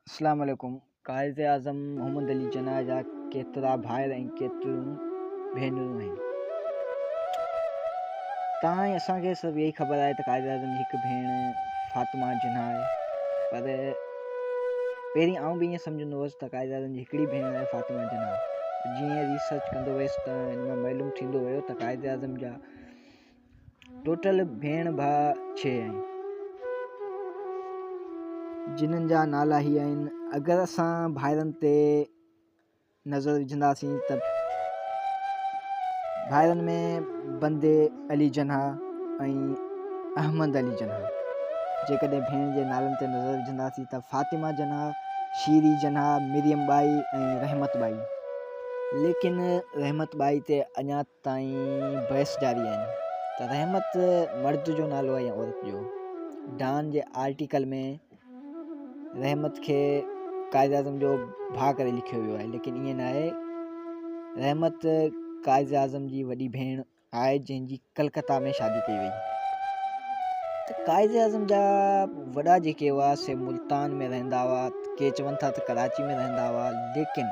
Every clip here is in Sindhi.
اسلام عليڪم قائد اعظم محمد علي جناح جا ڪيترا ڀائر ۽ ڪيتريون ڀينرون آهن تان ۽ اسان کي صرف اهي خبر آهي ته قائد اعظم جي هڪ ڀيڻ فاطمه جناح آهي پر پهرين آئون به ائين سمجهندو هوس ته قائد اعظم جي هڪڙي ڀيڻ آهي فاطمه جناح جيئن ريسرچ ڪندو ويس ته هن مان معلوم ٿيندو ويو ته قائد اعظم جا ٽوٽل ڀيڻ ڀاء ڇهه آهن. جنھن جا نالا هي آهن. اگر اسان ڀائرن تي نظر وجهنداسين ته ڀائرن ۾ بندي علي جناح ۽ احمد علي جناح. جيڪڏهن ڀيڻ جي نالن تي نظر وجهنداسين ته فاطمه جناح، شيري جناح، مريم ٻائي ۽ رحمت ٻائي. ليڪن رحمت ٻائي تي اڃا تائين بحث جاري آهن ته رحمت مرد جو نالو آهي يا عورت جو ڊان جي آرٽيڪل ۾ رحمت کي قائد اعظم جو ڀاء ڪري لکيو ويو آهي ليڪن ائين نه آهي رحمت قائد اعظم جي وڏي ڀيڻ آهي جنهن جي ڪلڪتا ۾ شادي ڪئي وئي قائد اعظم جا وڏا جيڪي هئا سي ملتان ۾ رهندا هئا ڪي چون ٿا ته ڪراچي ۾ رهندا هئا ليڪن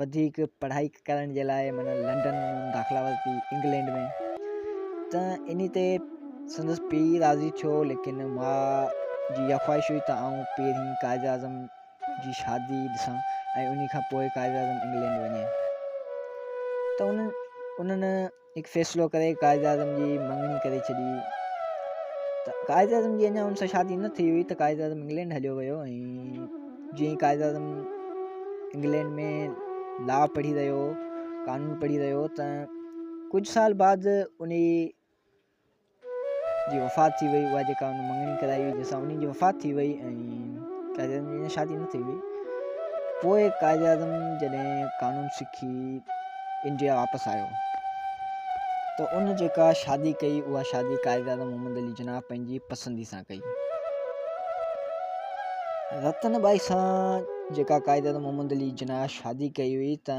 وڌيڪ پڙهائي ڪرڻ جي لاء معنيٰ لنڊن داخلا ورتي انگلينڊ ۾ ته ان تي سندس پيء راضي ٿيو ليڪن ماء جي اها خواهش هئي ته آئون پهرين قائد اعظم جي شادي ڏسان ۽ ان کان پوء قائد اعظم انگلينڊ وڃي ته انهن انهن هڪ فيصلو ڪري قائداعظم جي مڱڻي ڪري ڇڏي ته قائداعظم جي اڃا ان سان شادي نه ٿي هئي ته قائداعظم انگلينڊ هليو ويو ۽ جيئن قائداعظم انگلينڊ ۾ لا پڙهي رهيو قانون پڙهي رهيو ته ڪجهه سال بعد انهي جي وفات ٿي وئي اها جيڪا ان مڱڻي ڪرائي هئي جنهن سان انهي جي وفات ٿي وئي ۽ قائد اعظم جي اڃا شادي نه ٿي هئي پوء قائد اعظم جڏهن قانون سکي انڊيا واپس آيو ته ان جيڪا شادي ڪئي اها شادي قائد اعظم محمد علي جناح پنهنجي پسندي سان ڪئي رتن ٻائي سان جيڪا قائد اعظم محمد علي جناح شادي ڪئي هئي ته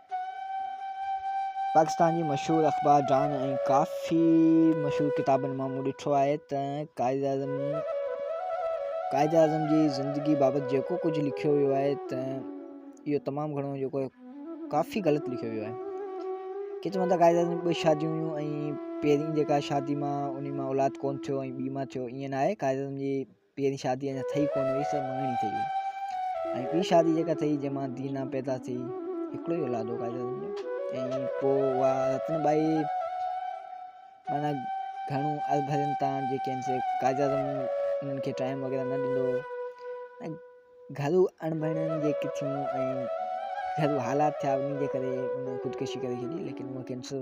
پاڪستان جي مشهور اخبار ڊان ۽ ڪافي مشهور ڪتابن مان مون ڏٺو آهي ته قائداعظم قائداعظم جي زندگي بابت جيڪو ڪجهه لکيو ويو آهي ته اهو تمام گهڻو جيڪو ڪافي غلط لکيو ويو آهي ڪي چون ٿا قائداعظم ٻه شاديون هيون ۽ پهرين جيڪا شادي مان ان مان اولاد ڪون ٿيو ۽ ٻي مان ٿيو ائين ناهي قائداعظم جي پهرين شادي اڃا ٿئي ڪونه هئي سو مڱڻي ٿئي هئي ۽ ٻي شادي جيڪا ٿئي جنهن مان دينا پيدا ٿي هڪڙو ئي اولاد ۽ پوء اها رتن ٻائي معنيٰ گهڻو اڀرين تان جيڪي آهن سي قائد اعظم انهن کي ٽائيم وغيره نه ڏنو ۽ گهرو اڻڀڻيون جيڪي ٿيون ۽ گهرو حالات ٿيا انهن جي ڪري انهن خودڪشي ڪري ڇڏي ليڪن هو ڪينسر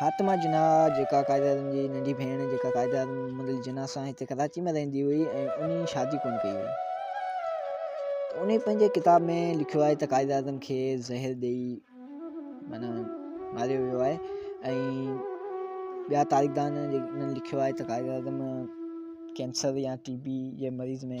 فاطمه جناح جيڪا قائد اعظم جي ننڍي ڀيڻ جيڪا قائد اعظم محمد علي جناح سان هتي ڪراچي ۾ رهندي هئي ۽ انهي شادي ڪونه ڪئي هئي انهي پنهنجي ڪتاب ۾ لکيو آهي ته قائد اعظم کي زهر ڏئي معنی ماريو ويو آهي ۽ ٻيا تاريخدان لکيو آهي ته قائد اعظم ڪينسر يا ٽي بي جي مريض ۾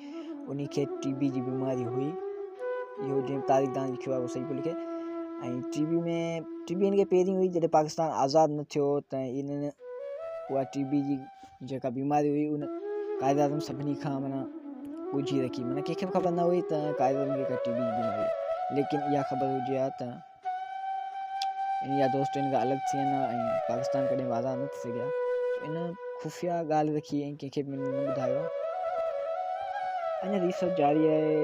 انهيء کي ٽي بي جي بيماري هئي. اهو جنهن تاريخدان لکيو آهي اهو صحيح پيو لکي ۽ ٽي بي ۾ ٽي بي هن کي پهرين هئي جڏهن پاڪستان آزاد نه ٿيو ته انهن اها ٽي بي جي جيڪا بيماري هئي ان قائد اعظم سڀني کان مانا ڳجهي رکي مانا ڪنهن کي به خبر نه هئي ته قائد اعظم کي ٽي بي جي بيماري ليڪن اها خبر هجي ها ته ان يا دوست ان کان الڳ ٿي ويندا ۽ پاڪستان ڪڏهن به آزاد نه ٿي سگهيا ان خفيه ڳالهه رکي ۽ ڪنهن کي به نه ٻڌايو اڃا ريسرچ جاري آهي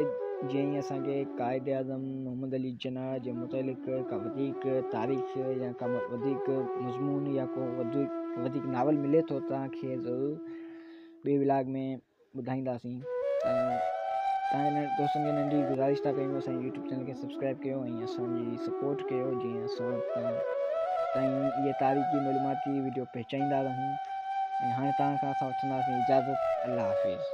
جنهن ۾ اسانکي قائد اعظم محمد علي جناح جي متعلق ڪا وڌيڪ تاريخ يا ڪا وڌيڪ مضمون يا ڪو وڌيڪ ناول ملي ٿو تانکي ضرور ٻي ولاگ ۾ ٻڌائينداسين ۽ تنهن دوستن کي ننڍي گذارش ٿا ڪيون اسان جي يوٽيوب چينل کي سبسڪرائب ڪيو ۽ اسان جي سپورٽ ڪيو جيئن اسان تائين اهي تاريخي معلوماتي ويڊيو پهچائيندا رهون ۽ هاڻي توهان کان اسان وٺنداسين اجازت الله حافظ